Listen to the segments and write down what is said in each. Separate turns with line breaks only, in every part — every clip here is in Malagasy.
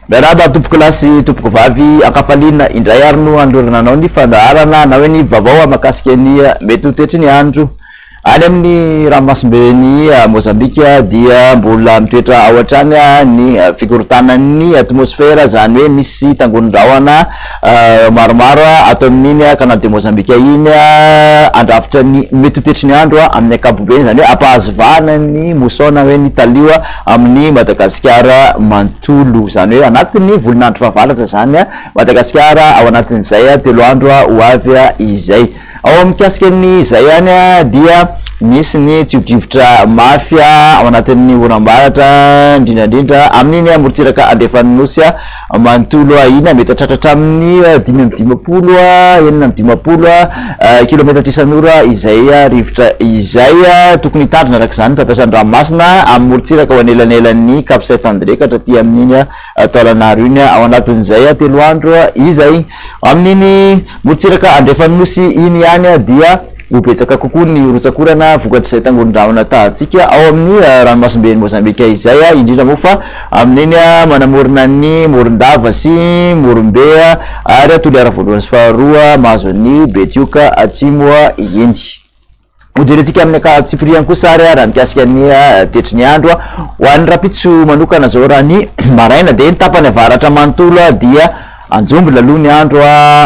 Miarahaba tompoko lahy sy tompoko vavy ankafaliana indray ary no androrana anao ny fandaharana na hoe ny vaovao amakasika ny mety ho toetry ny andro Any amin'ny ranomasimben'i Mozambika dia mbola mitoetra ao hatrany ny fikorontanan'ny atmosfera, izany hoe misy tangonin-drahona maromaro ato amin'iny Canal de Mozambique iny handrafitra ny mety ho toetry ny andro amin'ny ankapobeny, izany hoe hampahazivana ny mousson hoe ny talio amin'ny Madagasikara manontolo, izany hoe anatin'ny volon'andro fahavaratra izany Madagasikara ao anatin'izay telo andro ho avy izay. Ao amin'ny mikasika ny izay ihany dia misy ny tsihodivotra mafy ao anatin'ny oram-baratra, indrindra indrindra amin'iny amorontsiraka andrefan'ny Nosy manontolo iny. Mety hahatratra hatramin'ny dimy amby dimampolo, enina amby dimampolo kilaometatra isan'ora izay rivotra izay. Tokony hitandrina araka izany ny mpampiasa ny ranomasina amin'ny morontsiraka ao anelanelan'ny Cap Saint-André ka hatraty amin'iny taolan'aro iny. Ao anatin'izay telo andro izay. Amin'iny morontsiraka andrefan'ny Nosy iny ihany dia ho betsaka kokoa ny rotsak'orana vokatr'izay tangolon-drahona tahantsika ao amin'ny ranomasimben'i Mozambika izay, indrindra moa fa amin'iny manamorona an'i Morondava sy Morombe ary Toliara Voalohany sy Faharoa mahazo an'i Betioka Atsimo iny. Hojerentsika amin'ny ankaham-tsipiriany kosa ary raha mikasika ny tetry ny andro. Ho an'ny rahampitso manokana izao raha ny maraina dia ny tapany avaratra manontolo dia anjombona aloha ny andro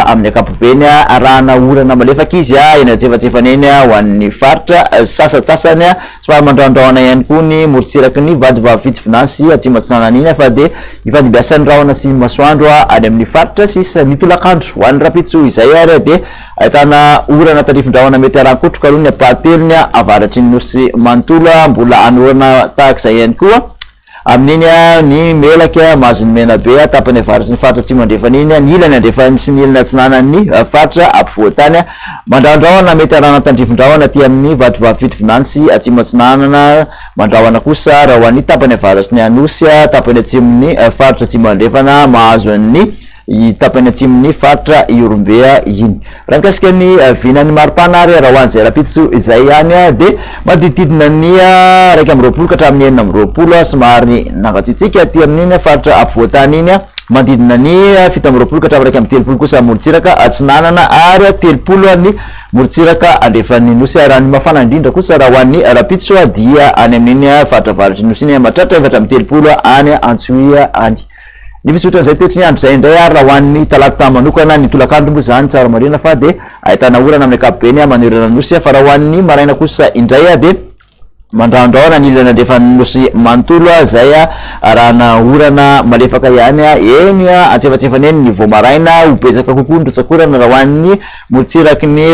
amin'ny ankapobeny arahana orana malefaka izy eny antsefatsefany eny ho an'ny faritra sasantsasany. Somary mandrahondrahona ihany koa ny morontsiraky ny vadivavy fitovinany sy atsimo atsinanana iny fa dia ifandimbiasan'ny rahona sy ny masoandro any amin'ny faritra sisa. Ny tolakandro ho an'ny rahampitso izay ary dia Ahitana orana tandrifin-drahona mety haran-kotroka aloha ny ampahatelony avaratry ny nosy manontolo, mbola hanorana tahaka izay ihany koa amin'iny ny Melaky, Mahazon'i Menabe, tapany avaratry ny faritra atsimo andrefan'iny, ny ilany andrefany sy ny ilany atsinanan'ny faritra ampovoan-tany. Mandrahondrahona mety harahana tandrifin-drahona aty amin'ny vatovavy Fitovinany sy Atsimo Atsinanana, mandrahona kosa raha ho an'ny tapany avaratry ny Anosy, tapany atsimon'ny faritra atsimo andrefana mahazo an'i. Iny tapany atsimon'ny faritra Ihorombe iny. Raha mikasika ny vinan'ny maripana ary raha ho an'izay rahampitso izay ihany dia manodidididina ny iraika amby roapolo ka hatramin'ny enina amby roapolo somary nangatsiatsiaka aty amin'iny faritra afovoan-tany iny manodidina ny fito amby roapolo ka hatramin'ny iraika amby telopolo kosa morontsiraka atsinanana ary telopolo ny morontsiraka andrefan'ny nosy ary ny mafana indrindra kosa raha ho an'ny rahampitso dia any amin'iny faritra avaratry ny nosy iny mahatratra efatra amby telopolo any Antsohihy any. Ny fizotran'izay toetry ny andro izay indray ary raha ho an'ny talata manokana, ny tolakandro moa izany tsara marihina fa dia ahitana orana amin'ny ankapobeny manerana ny nosy fa raha ho an'ny maraina kosa indray dia mandrahondrahona ny ilany andrefan'ny nosy manontolo izay arahana orana malefaka ihany, eny antsefatsefany eny ny vao maraina ho betsaka kokoa ny rotsak'orana raha ho an'ny Morotsiraky ny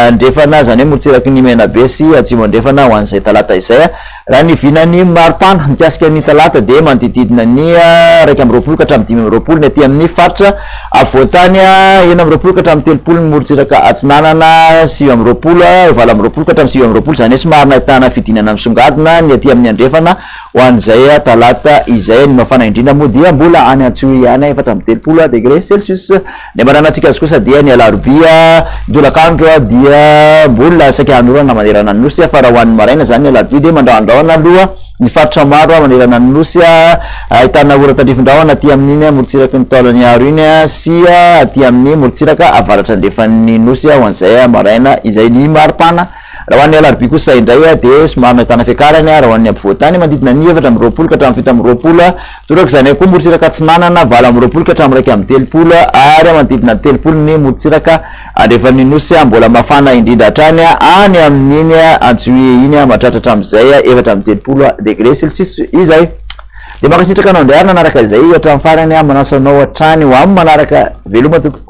Andrefana, izany hoe morotsiraky ny Menabe sy Atsimo Andrefana ho an'izay talata izay. Raha ny vinan'ny maripana mikasika ny talata dia manodidididina ny iraika amby roapolo ka hatramin'ny dimy amby roapolo ny aty amin'ny faritra afovoan-tany, enina amby roapolo ka hatramin'ny telopolo ny morontsiraka atsinanana, sivy amby roapolo, valo amby roapolo ka hatramin'ny sivy amby roapolo, izany hoe somary nahitana fidinana misongadina ny aty amin'ny Andrefana ho an'izay talata izay. Ny mafana indrindra moa dia mbola any Antsiho ihany, efatra amby telopolo degre celsius. Ny ambaranantsika azy kosa dia ny alarobia, ny tolakandro dia mbola saika hanorana manerana ny nosy fa raha ho an'ny maraina izany ny alarobia dia mandrahondrahona aloha ny faritra maro manerana ny nosy ahitana ora tandrifin-drahona aty amin'iny morontsiraky ny Taolagnaro iny sy aty amin'ny morontsiraka avaratra andrefan'ny nosy ho an'izay maraina izay ny maripana raha ho an'ny alarobia kosa indray dia somary nahitana fiakarany raha ho an'ny ampovoan-tany manodidina ny efatra amby roapolo ka hatramin'ny fito amby roapolo Toraka izany ihany koa morontsiraka atsinanana, valo amby roapolo ka hatramin'ny iraika amby telopolo ary manodidina ny telopolo ny morontsiraka andrefan'ny nosy mbola mafana indrindra hatrany any amin'iny Antsohihy iny mahatratra hatramin'izay efatra amby telopolo degre celsius izay. Dia mankasitraka anao indray ary nanaraka izay hatramin'ny farany, manasa anao hatrany ho amin'ny manaraka, veloma tompoko.